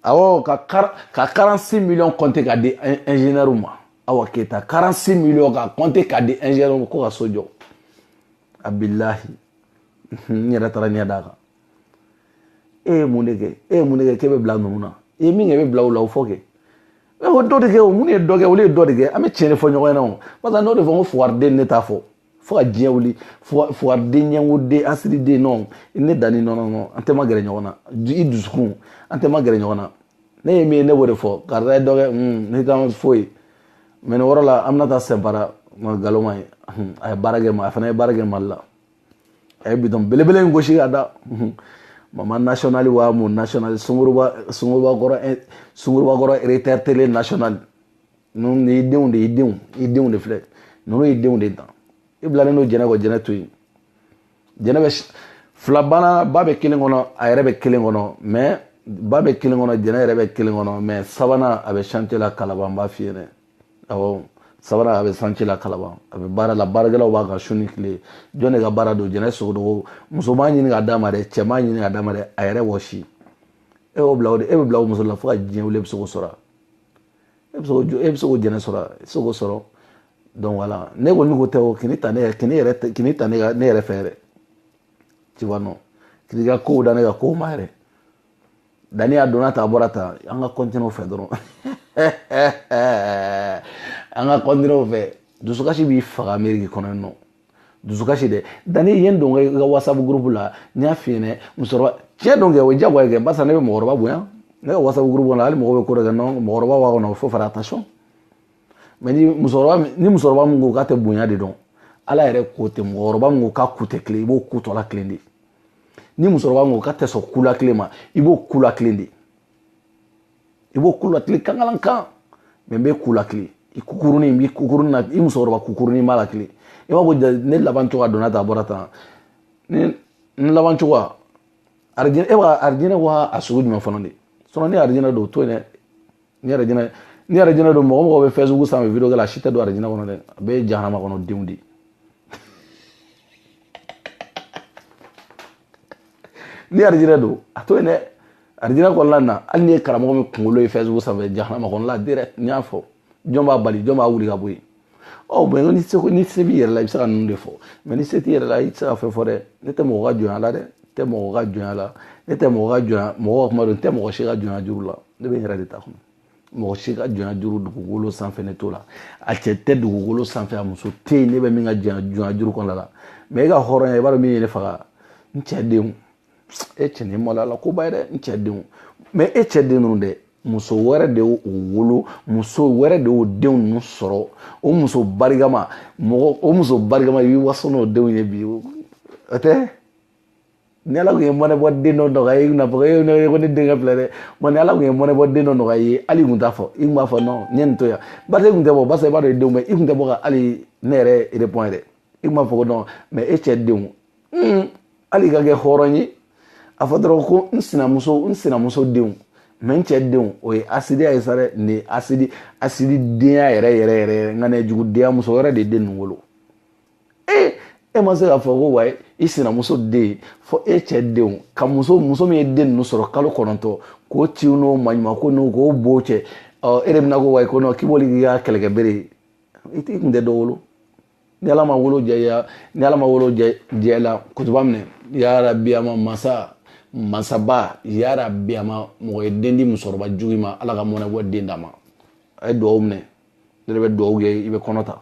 S1: awɔ ka kar ka 46 millions compter k'a di ingénieur ma awa keyita 46 millions ka compter k'a di ingénieur ma ko ka so jɔ a billahi n yɛrɛ taara ɲɛ d'a kan e ye mun de kɛ e ye mun de kɛ k'e bɛ bila ninnu na i ye min kɛ i bɛ bila o la o fɔ kɛ o dɔ de kɛ o mun ye dɔ kɛ olu ye dɔ de kɛ an bɛ tiɲɛ de fɔ ɲɔgɔn ɲɛna o parce que n'o de fɔ ko fugariden ne t'a fɔ fo ka diɲɛ wuli fugariden ɲɛngoden asiriden non ne danni non non non an tɛ magɛrɛ ɲɔgɔn na i dusukun an tɛ magɛrɛ ɲɔgɔn na ne ye min ye ne b'o de fɔ karisa ye dɔ kɛ ne t'an foyi mais nin yɔrɔ la aminata sɛnpara nkalon man ɲi a ye baara kɛ ma a fana ye baara kɛ mali la a ye bitɔn belebele in gosi ka da mama national wa mun national sunguruba sunguruba kɔrɔ sunguruba kɔrɔ eretɛrɛ tele national ninnu de ye denw de ye denw i denw de filɛ ninnu ye denw de dan i bilalen don jɛnɛ kɔ jɛnɛ to yen jɛnɛ bɛ fila bana ba bɛ kelen kɔnɔ a yɛrɛ bɛ kelen kɔnɔ mais ba bɛ kelen kɔnɔ jɛnɛ yɛrɛ bɛ kelen kɔnɔ mais sabanan a bɛ chantier la kalaban n b'a f'i ye dɛ awɔ sabanan a bɛ chantier la kalaban a bɛ baara la baarakɛlaw b'a kan su ni tile jɔn de ka baara don jɛnɛ sogodogo muso m'a ɲini ka d'a ma dɛ cɛ m'a ɲini ka d'a ma dɛ a yɛrɛ wɔsi e y'o bila o de e bɛ bila o muso la fo ka diɲɛ wuli e bɛ se k'o sɔrɔ e bɛ se k'o e bɛ se k'o jɛnɛ sɔrɔ i tɛ se k'o sɔrɔ donc voilà ne kɔni ko tɛ o k'i n'i ta ne yɛrɛ k'i n'i yɛrɛ tɛ k'i n'i ta ne ka ne yɛrɛ fɛ yɛrɛ tu vois non k'i n'i ka kow da ne ka kow ma yɛrɛ dani a donna tan a bɔra tan an ka continuer o fɛ dɔrɔn an ka continuer o fɛ dusukasi b'i faga ameriki kɔnɔ yen nɔ dusukasi dɛ dani ye n don i ka whatsapp groupe la n y'a f'i ɲɛna musokɔrɔba tiɲɛ don kɛ o ye diyagoya ye kɛ barisa ne bɛ mɔgɔkɔrɔba bonya ne ka whatsapp groupe la hali mɔgɔ bɛ ko dɔ kɛ non mɔgɔkɔrɔba b'a kɔnɔ faut faire attention mais ni musokɔrɔba ni musokɔrɔba min ko k'a tɛ bonya de dɔn ala yɛrɛ ko tɛ mɔgɔkɔrɔba min ko k'a ku tɛ tilen i b'o ku tɔ latilen de ni musokɔrɔba min ko k'a tɛ sɔn ku latilen ma i b'o ku latilen de i b'o ku latilen kankalan kan mais n bɛ ku latilen i kukurunin n b'i kukurunin na i musokɔrɔba kukurunin b'a latilen i b'a fɔ ne laban cogoya donna tan a bɔra tan ne n laban cogoya arijinɛ e b'a arijinɛ wa a sugu jumɛn fana de sinon ni arijinɛ don o to yen dɛ ni arijinɛ ni arijinɛ don mɔgɔ o mɔgɔ bɛ facebook sanfɛ video kɛ la a si tɛ don arijinɛ kɔnɔ dɛ a bɛɛ ye jahanama kɔnɔ denw de ye ni arijinɛ don a to yen dɛ arijinɛ kɔnɔna na hali n'i ye karamɔgɔ min kunkolo ye facebook sanfɛ jahanama kɔnɔla direct n y'a fɔ jɔn b'a bali jɔn b'a wuli ka bɔ yen ɔ mais ni se ni se b'i yɛrɛ la i bɛ se ka ninnu de fɔ mais ni se t'i yɛrɛ la i tɛ se ka fɛn fɔ dɛ ne tɛ mɔgɔ ka jɔnya la dɛ ne tɛ mɔgɔ ka jɔnya la ne tɛ mɔgɔ ka jɔnya mɔgɔ ka kuma don n tɛ mɔgɔ si ka jɔnya juru la ne bɛ n yɛrɛ de ta kɔnɔ mɔgɔ si ka jɔnya juru dugukolo sanfɛ ne t'o la a cɛ tɛ dugukolo sanfɛ a muso tɛ yen ne bɛ min ka jɔnya juru kɔnɔna la mais e ka hɔrɔnya i b'a dɔn min ye ne faga n cɛ denw e cɛ nin maloya la koba ye dɛ n cɛ denw mais e cɛ den ninnu dɛ muso wɛrɛ de y'o wolo muso wɛrɛ de y'o denw ninnu sɔrɔ o muso barikama mɔgɔ o muso barikama i b'i waso n'o denw ye bi o tɛ ni ala tun ye mɔnɛbɔ den dɔ nɔgɔya i ye i n'a fɔ e ne ko ne denkɛ filɛ dɛ mais ni ala tun ye mɔnɛbɔ den dɔ nɔgɔya i ye hali i tun t'a fɔ i tun b'a fɔ non n ye nin to yan barisa i tun tɛ bɔ barisa i b'a dɔn i denw bɛ i tun tɛ bɔ ka hali ne yɛrɛ répond yɛrɛ i tun b'a fɔ ko non mais e cɛ denw hali i ka kɛ hɔrɔn ye a fɔ dɔrɔn ko n sinamuso n sinamuso denw mais n cɛ denw o ye asidiya ye sa dɛ nin ye asidi asididenya yɛrɛ yɛrɛ yɛrɛ yɛrɛ nka ne jugudenya muso wɛrɛ de den ninnu wolo ee e ma se k'a fɔ ko wayi i sinamuso den fɔ e cɛ denw ka muso muso min ye den ninnu sɔrɔ kalo kɔnɔntɔn k'o tin n'o maɲuman ko n'o k'o b'o cɛ ɔ e de bɛna ko wayi ko nɔ k'i b'olu k'i ka kɛlɛkɛ bere ye i t'i kun tɛ dɔ wolo ni ala ma wolo jɛya ni ala ma wolo jɛ la kutuba minɛ yarabi ama masa masaba yarabi ama mɔgɔ ye den di musokɔrɔba jugu ma ala ka mɔnɛbɔ den d'a ma a ye dugawu minɛ ne de bɛ dugawu kɛ i bɛ kɔnɔ ta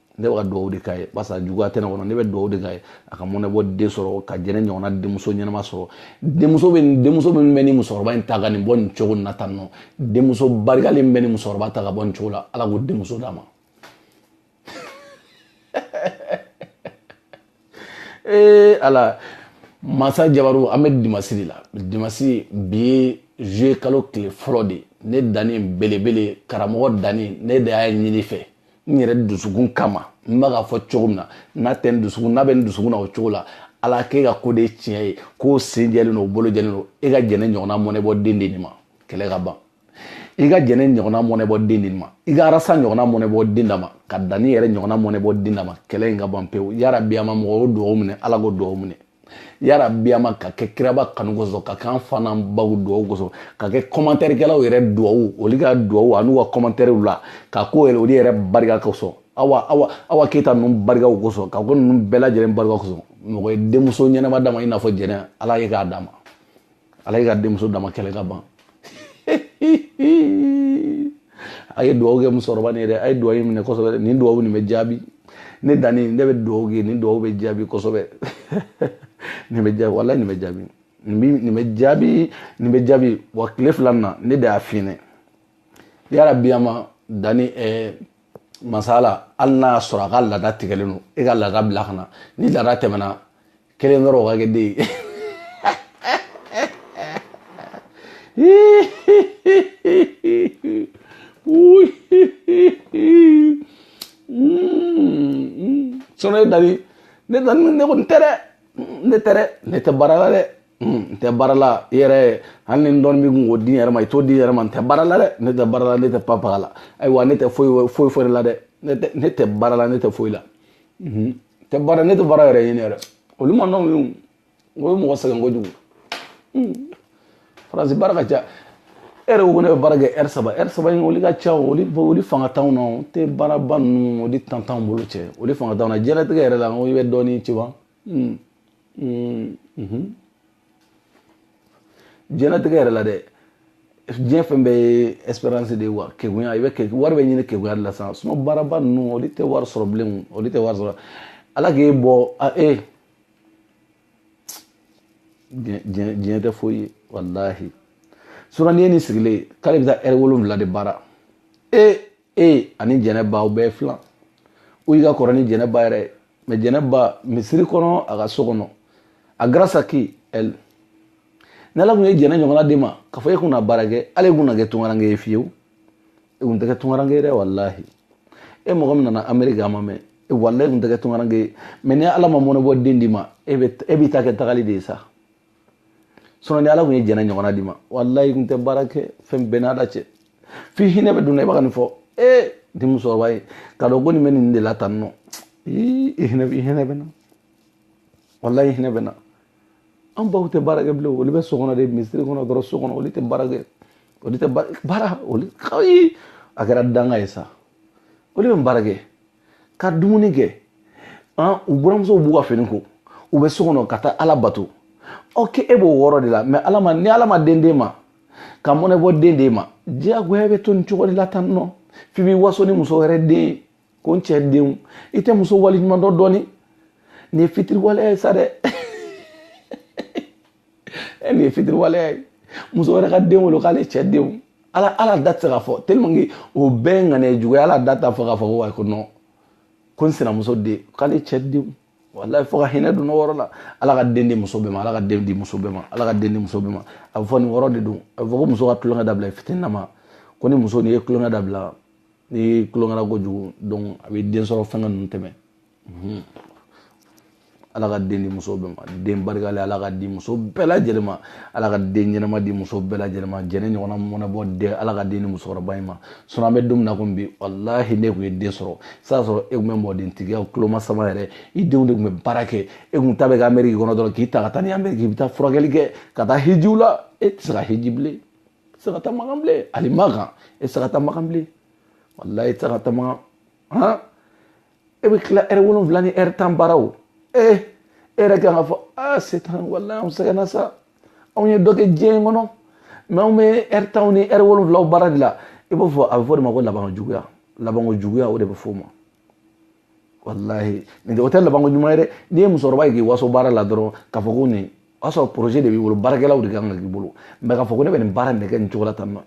S1: ne bɛ ka dugawu de k'a ye barisa juguya tɛ ne kɔnɔ ne bɛ dugawu de k'a ye a ka mɔnɛbɔ den sɔrɔ ka jɛnɛ ɲɔgɔnna denmuso ɲɛnama sɔrɔ denmuso bɛ denmuso min bɛ ni musokɔrɔba in ta ka nin bɔ nin cogo in na tan nɔ denmuso barikalen min bɛ ni musokɔrɔba ta ka bɔ nin cogo la ala k'o denmuso d'a ma ee ala masa jabaru an bɛ dimasi de la dimasi bi ye juye kalo tile fɔlɔ de ne danni belebele karamɔgɔ danni ne de y'a ɲini fɛ n yɛrɛ dusukun kama n bɛ k'a fɔ cogo min na n'a tɛ n dusukun n'a bɛ n dusukun na o cogo la ala k'e ka ko de ye tiɲɛ ye k'o sen jɛlen don o bolo jɛlen don e ka jɛnɛ ɲɔgɔnna mɔnɛbɔ den di nin ma kɛlɛ ka ban i ka jɛnɛ ɲɔgɔnna mɔnɛbɔ den d'a ma i ka arasa ɲɔgɔnna mɔnɛbɔ den d'a ma ka danni yɛrɛ ɲɔgɔnna mɔnɛbɔ den d'a ma kɛlɛ in ka ban pewu yarabi ama mɔgɔ o dugawu minɛ ala k'o dugawu minɛ yarabi ama ka kɛ kiraba kanu kosɔn ka k'an fa n'an baw dugawu kosɔn ka kɛ kɔmantɛrikɛlaw yɛrɛ dugawu olu ka dugawu an'u ka kɔmantɛriw la ka k'o yɛrɛ olu yɛrɛ barika kosɔn awa awa awa keyita ninnu barikaw kosɔn ka k'o ninnu bɛɛ lajɛlen barika kosɔn mɔgɔ ye denmuso ɲɛnama d'a ma i n'a fɔ jɛnɛ ala i k'a d'a ma ala i ka denmuso d'a ma kɛlɛ ka ban a ye dugawu kɛ musokɔrɔba nin ye dɛ a ye dugawu in minɛ kosɛbɛ nin dugawu nin bɛ jaabi ne danni ne bɛ dugawu kɛ nin dugawu bɛ jaabi kosɛbɛ nin bɛ jaabi walayi nin bɛ jaabi nin bɛ nin bɛ jaabi nin bɛ jaabi wa tile fila nin na ne de y'a f'i ɲɛna yarabi ama danni ɛɛ masa ala hali n'a y'a sɔrɔ a ka laada tigɛlen don e ka laada bila ka na ni laada tɛmɛna kelen dɔrɔn o ka kɛ den ye sɔnni ye danni ne danni ne ko n tɛ dɛ ne tɛ dɛ ne tɛ baara la dɛ n tɛ baara la i yɛrɛ hali ni dɔɔni b'i kun k'o di n yɛrɛ ma i t'o di n yɛrɛ ma n tɛ baara la dɛ ne tɛ baara la ne tɛ papaga la ayiwa ne tɛ foyi foyi foyi la dɛ ne tɛ baara la ne tɛ foyi la. tɛ baara ne tɛ baara yɛrɛ ɲini yɛrɛ olu man nɔgɔn ye o ye mɔgɔ sɛgɛn kojugu faransi baara ka ca e yɛrɛ ko ko ne bɛ baara kɛ ɛri saba ɛri saba in olu ka ca olu olu fanga t'anw na o tɛ baaraba ninnu olu tan t'anw bolo cɛ olu fanga t'anw na diɲɛlatigɛ yɛrɛ la n ko i bɛ dɔɔnin ci wa diɲɛlatigɛ yɛrɛ la dɛ diɲɛ fɛn bɛɛ ye espérance de ye wa kegunya i bɛ ke wari bɛ ɲini kegunya de la sisan sinon baaraba ninnu olu tɛ wari sɔrɔ bilen olu tɛ wari sɔrɔ ala k'e bɔ a e diɲɛ diɲɛ tɛ foyi ye walahi sinon n'i ye nin sigilen ye k'ale bɛ taa ɛri wolonwula de baara e e ani jɛnɛba aw bɛɛ filanw ye i ka kɔrɔ ni jɛnɛba yɛrɛ ye mais jɛnɛba misiri kɔnɔ a ka so kɔnɔ a grâce à qui elle ni ala kun ye jɛnɛ ɲɔgɔnna d'e ma k'a fɔ e kun na baara kɛ ale kun na kɛ tungaranke ye fiyewu e kun tɛ kɛ tungaranke ye dɛ walahi e mɔgɔ min nana ameriki a ma mɛn e walahi kun tɛ kɛ tungaranke ye mais ni ala ma mɔnɛbɔ den d'i ma e bɛ e b'i ta kɛ tagali de ye sa sinon ni ala kun ye jɛnɛ ɲɔgɔnna d'i ma walahi kun tɛ baara kɛ fɛn bɛɛ n'a dan cɛ f'i hinɛ bɛ don n na i b'a ka nin fɔ ee ni musokɔrɔba ye k'a dɔn ko nin bɛ nin de la tan nɔ i hinɛ i hinɛ bɛ n na walahi i hinɛ bɛ n na an baw tɛ baara kɛ bilen olu bɛ so kɔnɔ de misiri kɔnɔ dɔrɔn so kɔnɔ olu tɛ baara kɛ olu tɛ baara olu ayi a kɛra danga ye sa olu bɛ baara kɛ ka dumuni kɛ an u buranmusow b'u ka fini ko u bɛ so kɔnɔ ka taa ala bato ok e b'o wɔɔrɔ de la mais ala ma ni ala ma den d'e ma ka mɔnɛ bɔ den d'e ma diyagoya bɛ to nin cogo de la tan nɔ f'i b'i waso ni muso wɛrɛ den ye ko n cɛ denw i tɛ muso waleɲuman dɔn dɔɔni nin ye fitiriwaleya ye sa dɛ ɛ nin ye fitiriwaleya ye muso wɛrɛ ka den wolo k'ale cɛ denw ala hali a da tɛ se k'a fɔ tellement que o bɛɛ ye ŋaniya juguya hali a da t'a fɔ k'a fɔ ko ayi ko non ko n sinamuso den k'ale cɛ denw walahi fo ka hinɛ donna o yɔrɔ la ala ka den di muso bɛɛ ma ala ka den di muso bɛɛ ma ala ka den di muso bɛɛ ma a bɛ fɔ nin yɔrɔ de don a bɛ fɔ ko muso ka tulonkɛ dabila i fitini na ma ko ni muso n'i ye tulonkɛ dabila n'i tulonkɛla kojugu donc a bɛ den sɔrɔ fɛngɛ ninnu tɛmɛ ala ka den di muso bɛɛ ma den barikalen ala ka di muso bɛɛ lajɛlen ma ala ka den ɲɛnama di muso bɛɛ lajɛlen ma jɛnɛ ɲɔgɔnna mɔnɛ bɔ den ala ka den di musokɔrɔba in ma sinon an bɛ don min na komi bi walahi n'e tun ye den sɔrɔ sisan sɔrɔ e tun bɛ mɔdentigiya tulomasama yɛrɛ i denw de tun bɛ baara kɛ e tun ta bɛ kɛ ameriki kɔnɔ dɔrɔn k'i ta ka taa ni ameriki i bɛ taa furakɛli kɛ ka taa hijiw la e tɛ se ka hiji bilen e tɛ se ka taa makan bilen hali makan e tɛ se ka taa makan bilen walahi e tɛ se ka taa makan han e bɛ tila ɛri wolonwula ni ɛri tan baara o ee e yɛrɛ kan k'a fɔ aa setan walahi anw sɛgɛnna sa anw ye dɔ kɛ diɲɛ in kɔnɔ mais anw bɛ ɛri tanw ni ɛri wolonwulaw baara de la i b'a fɔ a bɛ f'o de ma ko labanko juguya labanko juguya o de bɛ f'o ma walahi nin tɛ o tɛ labanko ɲuman ye dɛ n'i ye musokɔrɔba ye k'i waso baara la dɔrɔn k'a fɔ ko nin o y'a sɔrɔ projet de b'i bolo baarakɛlaw de kan ka k'i bolo mais k'a fɔ ko ne bɛ nin baara in de kɛ nin cogo la tan non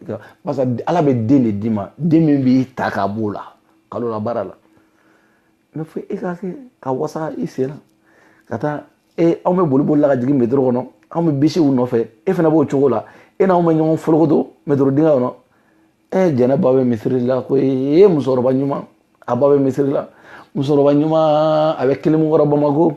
S1: parce que ala bɛ den de d'i ma den min b'i ta k'a b'o la kalo la baara la mais fo e ka kɛ ka wasa i sen na ka taa e anw bɛ boli boli la ka jigin metro kɔnɔ anw bɛ bisiw nɔfɛ e fana b'o cogo la e n'anw bɛ ɲɔgɔn folokoto metro dingɛ kɔnɔ e jɛnɛ ba bɛ misiri la ko e musokɔrɔba ɲuman a ba bɛ misiri la musokɔrɔba ɲuman a bɛ kilimu kɔrɔ bamako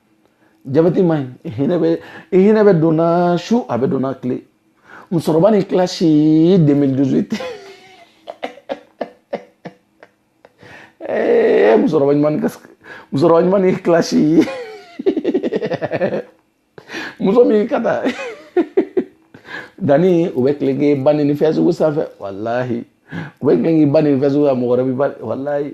S1: jabɛti man ɲi hinɛ bɛ i hinɛ bɛ donna su a bɛ donna tile musokɔrɔba ni clash 2018 ee musokɔrɔba ɲuman ni musokɔrɔba ɲuman ni clash muso min ka taa danni u bɛ tile k'i ba neni facebook sanfɛ walahi u bɛ tile k'i ba neni facebook la mɔgɔ wɛrɛ b'i ba walahi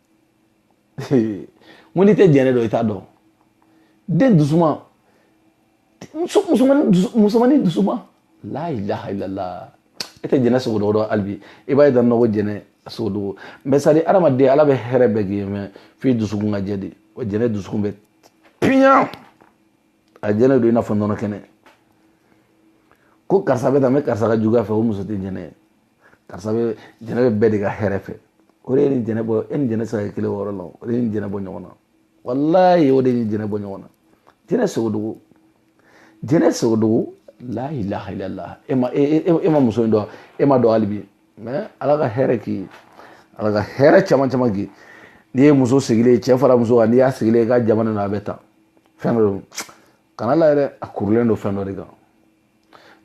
S1: mun n'i tɛ jɛnɛ dɔn i t'a dɔn dɛ dusuman musomanin dusuman la ilaha illallah e tɛ jɛnɛ sogodogo dɔn hali bi i b'a ye dɔrɔn ko jɛnɛ sogodogo mais c'est à dire adamaden ala bɛ hɛrɛ bɛɛ k'i ye mais f'i dusukun ka jɛ de o jɛnɛ dusukun bɛ piɲa a jɛlen don i n'a fɔ nɔnɔ kɛnɛ ko karisa bɛ tan n bɛ karisa ka juguya fɛ o muso tɛ jɛnɛ ye karisa bɛ jɛnɛ bɛ bɛɛ de ka hɛrɛ fɛ o de y'e ni jɛnɛ bɔ e ni jɛnɛ sira kelen wɔɔrɔ la o de y'e ni jɛnɛ bɔ ɲɔgɔn na walayi o de y'e ni jɛnɛ bɔ ɲɔgɔn na jɛnɛ sogodogo jɛnɛ sogodogo la ilaha illallah e ma e, e, e ma muso in dɔn e ma dɔn hali bi mais ala ka hɛrɛ k'i ye ala ka hɛrɛ caman caman k'i n'i ye muso sigilen cɛ fara muso kan n'i y'a sigilen i ka jamana na a bɛ ta fɛn dɔ don kana la yɛrɛ a kurulen don fɛn dɔ de kan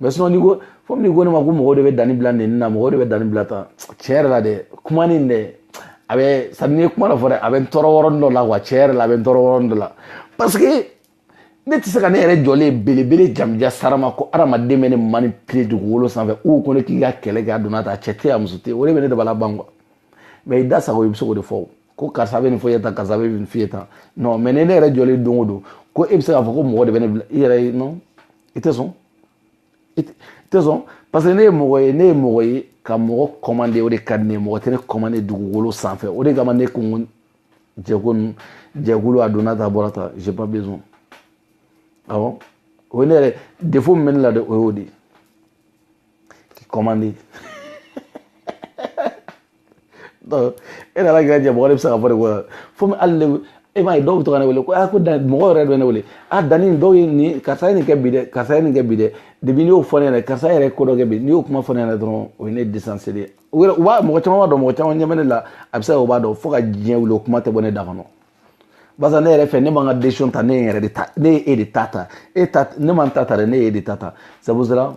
S1: mais sinon n'i ko fo n'i ko ne ma ko mɔgɔw de bɛ danni bila nin na mɔgɔw de bɛ danni bila tan tiɲɛ yɛrɛ la dɛ kuma nin dɛ a bɛ c'est à dire n'i ye kuma dɔ fɔ dɛ a bɛ n tɔɔrɔ yɔrɔnin dɔ la wa tiɲɛ yɛrɛ la a bɛ n tɔɔrɔ yɔrɔnin dɔ la parce que ne tɛ se ka ne yɛrɛ jɔlen belebele jamanjan sarama ko adamaden bɛ ne manipuler dugukolo sanfɛ u ko ne k'i ka kɛlɛ kɛ a donna ta cɛ tɛ a muso tɛ o de bɛ ne dabali ban quoi mais i da sago i bɛ se k'o de fɔ ko karisa bɛ nin fɔ i ye tan karisa bɛ nin fɔ i ye tan non mais ni ne yɛrɛ jɔlen don o don ko e bɛ se k'a fɔ ko mɔgɔ de bɛ ne bila i yɛrɛ ye non i tɛ sɔn i tɛ sɔn parce que ne ye mɔgɔ ye ne ye mɔgɔ ye ka mɔgɔ commander o de ka di ne ye mɔgɔ tɛ ne commander dugukolo sanfɛ o de kama ne ko n ko jɛko ninnu jɛkulu a donna tan bɔra tan j'ai pas besoin awɔ o ye ne yɛrɛ défaut min bɛ ne la dɛ o y'o de ye k'i commandé e nana kɛ jɛ mɔgɔ de bɛ se ka fɔ de ko fo hali ne e m'a ye dɔw bɛ to ka ne wele ko a ko dan mɔgɔ yɛrɛ bɛ ne wele a danni dɔw ye nin karisa ye nin kɛ bi dɛ karisa ye nin kɛ bi dɛ depuis n'i y'o fɔ ne ɲɛna karisa yɛrɛ ye ko dɔ kɛ bi n'i y'o kuma fɔ ne ɲɛna dɔrɔn o ye ne disanse de ye u yɛrɛ u b'a mɔgɔ caman b'a dɔn mɔgɔ caman ɲɛ bɛ ne la a bɛ se ka o b'a dɔn fo ka diɲɛ wuli o kuma tɛ bɔ ne da kɔnɔ barisa ne yɛrɛ fɛ ne ma n ka décision ta ne ye n yɛrɛ de ta ne ye e de ta ta e ta ne ma n ta ta dɛ ne ye e de ta ta c'est pour cela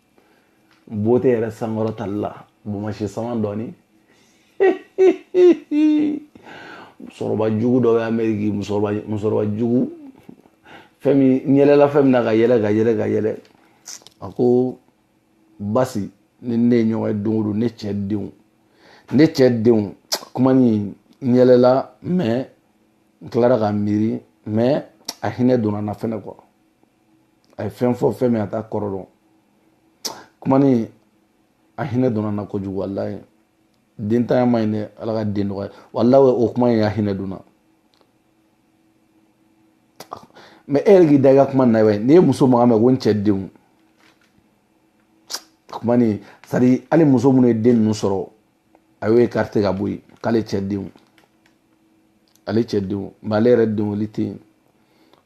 S1: bon n tɛ yɛrɛ sankɔrɔtali la bumasi sama dɔɔni musokɔrɔba jugu dɔ bɛ ameriki musokɔrɔba jugu fɛn min n yɛlɛla fɛn min na ka yɛlɛ ka yɛlɛ ka yɛlɛ a ko basi ni ne ye ɲɔgɔn ye don o don ne cɛ denw ne cɛ denw kuma ni n yɛlɛla mais n tilara ka miiri mais a hinɛ donna n na fɛnɛ quoi a ye fɛn fɔ fɛn min a t'a kɔrɔ dɔn kuma nin a hinɛ donna n na kojugu walayi dentanya man ɲi dɛ ala ka den nɔgɔya walayi o kuma in a hinɛ donna mais e yɛrɛ k'i da i ka kuma na bɛ n'i ye muso mankan mɛn ko n cɛ denw kuma nin c'est à dire hali muso minnu ye den ninnu sɔrɔ a y'o écarté ka bɔ yen k'ale cɛ denw ale cɛ denw mais ale yɛrɛ denw olu tɛ yen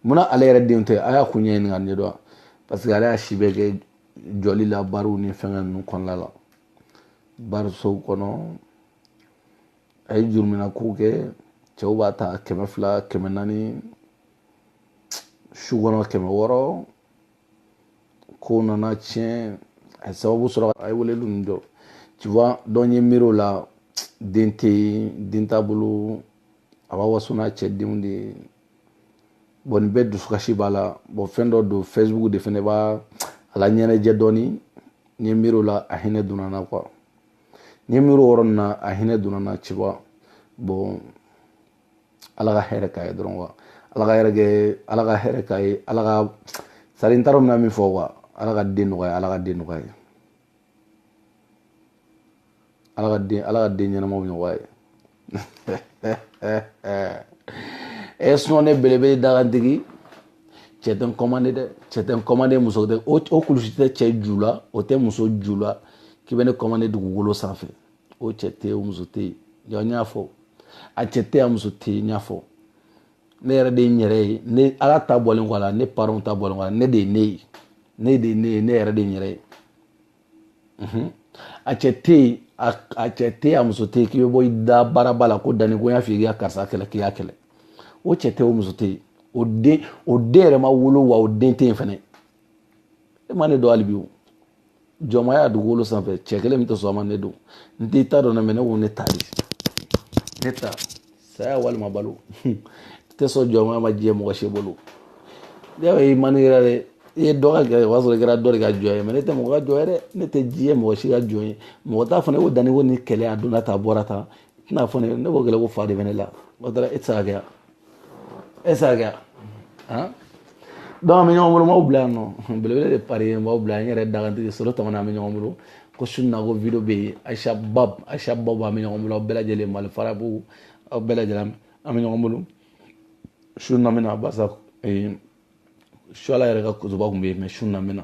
S1: munna ale yɛrɛ denw tɛ a y'a kun ɲɛɲini ka ɲɛdɔn parce que ale y'a si bɛɛ kɛ jɔli la bariw ni fɛngɛ ninnu kɔnɔna la barisow kɔnɔ a ye jurumina ko kɛ cɛw b'a ta kɛmɛ fila kɛmɛ naani su kɔnɔ kɛmɛ wɔɔrɔ ko nana tiɲɛ a ye sababu sɔrɔ a ye weleli ninnu jɔ tu vois donc n ye miiri o la den tɛ yen den t'a bolo a b'a waso n'a cɛ denw de ye bon nin bɛɛ dusukasi b'a la bon fɛn dɔ don facebook de fɛnɛ b'a laɲɛnajɛ dɔɔni n ye miiri o la a hinɛ donna n na quoi n ye miiri o yɔrɔ nin na a hinɛ donna n na tu vois bon ala ka hɛrɛ k'a ye dɔrɔn quoi ala ka hɛrɛ kɛ ala ka hɛrɛ k'a ye ala ka c'est à dire n t'a dɔn n bɛna min fɔ quoi ala ka den nɔgɔya ala ka den nɔgɔya ala ka den ala ka den ɲɛnamaw nɔgɔya ye e sinon ne belebele dagantigi cɛ tɛ n commandé dɛ cɛ tɛ n commandé muso tɛ o kulusi tɛ cɛ ju la o tɛ muso ju la k'i bɛ ne commandé dugukolo sanfɛ o cɛ tɛ yen o muso tɛ yen n y'a fɔ a cɛ tɛ a muso tɛ yen n y'a fɔ ne yɛrɛ de ye n yɛrɛ ye ne ala ta bɔlen kɔ a la ne parents ta bɔlen kɔ a la ne de ye ne ye ne de ye ne ye ne yɛrɛ de ye n yɛrɛ ye a cɛ tɛ yen a cɛ tɛ yen a muso tɛ yen k'i bɛ bɔ i da baaraba la ko danni ko n y'a f'i ye k'i ka karisa kɛlɛ k'i y'a kɛlɛ o cɛ tɛ o muso tɛ yen o den o den yɛrɛ ma wolo wa o den tɛ yen fɛnɛ e ma ne dɔn hali bi o jɔnmaya dugukolo sanfɛ cɛ kelen min tɛ sɔn a ma ne don n tɛ ta dɔn dɛ mɛ ne ko ne ta de ne ta saya walima balo tɛ sɔn jɔnmaya ma diɲɛ mɔgɔ si bolo ne y'a ye i man ne yɛrɛ dɛ i ye dɔ ka gɛrɛ o y'a sɔrɔ i kɛra dɔ de ka jɔn ye mɛ ne tɛ mɔgɔ ka jɔn ye dɛ ne tɛ diɲɛ mɔgɔ si ka jɔn ye mɔgɔ t'a fɔ ne ko danni ko ni kɛlɛ a donna tan a bɔra tan tɛna fɔ ne ne ko kɛlɛ ko fa de bɛ ne la o taara e tɛ se ka kɛ yan esa kɛra han donc an bɛ ɲɔgɔn bolo n b'aw bila yan nɔ belebele de pari ye n b'aw bila n yɛrɛ dagantigi solo tɔmɔna an bɛ ɲɔgɔn bolo ko su in na ko video bɛ yen ayisa bab ayisa bab an bɛ ɲɔgɔn bolo aw bɛɛ lajɛlen mali farabu aw bɛɛ lajɛlen an bɛ ɲɔgɔn bolo su in na n bɛna barisa suwala yɛrɛ ka kutuba tun bɛ yen mɛ su in na n bɛna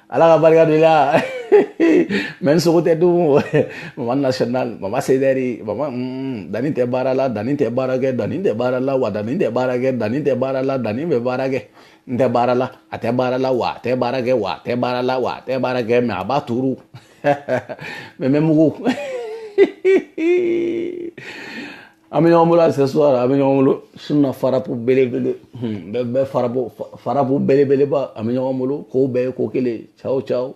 S1: ala ka barika de la mɛ n sogo tɛ dun mama national mama sedɛri mama mm, danni tɛ baara la danni tɛ baara kɛ danni tɛ baara la wa danni tɛ baara kɛ danni tɛ baara la danni bɛ baara kɛ n tɛ baara la a tɛ baara la wa a tɛ baara kɛ wa a tɛ baara la wa a tɛ baara kɛ mɛ a b'a turu mɛ n bɛ mugu an bɛ ɲɔgɔn bolo à ce soir an bɛ ɲɔgɔn bolo su in na farapu belebele bɛɛ farapu belebeleba an bɛ ɲɔgɔn bolo k'o bɛɛ ye ko kelen ciao ciao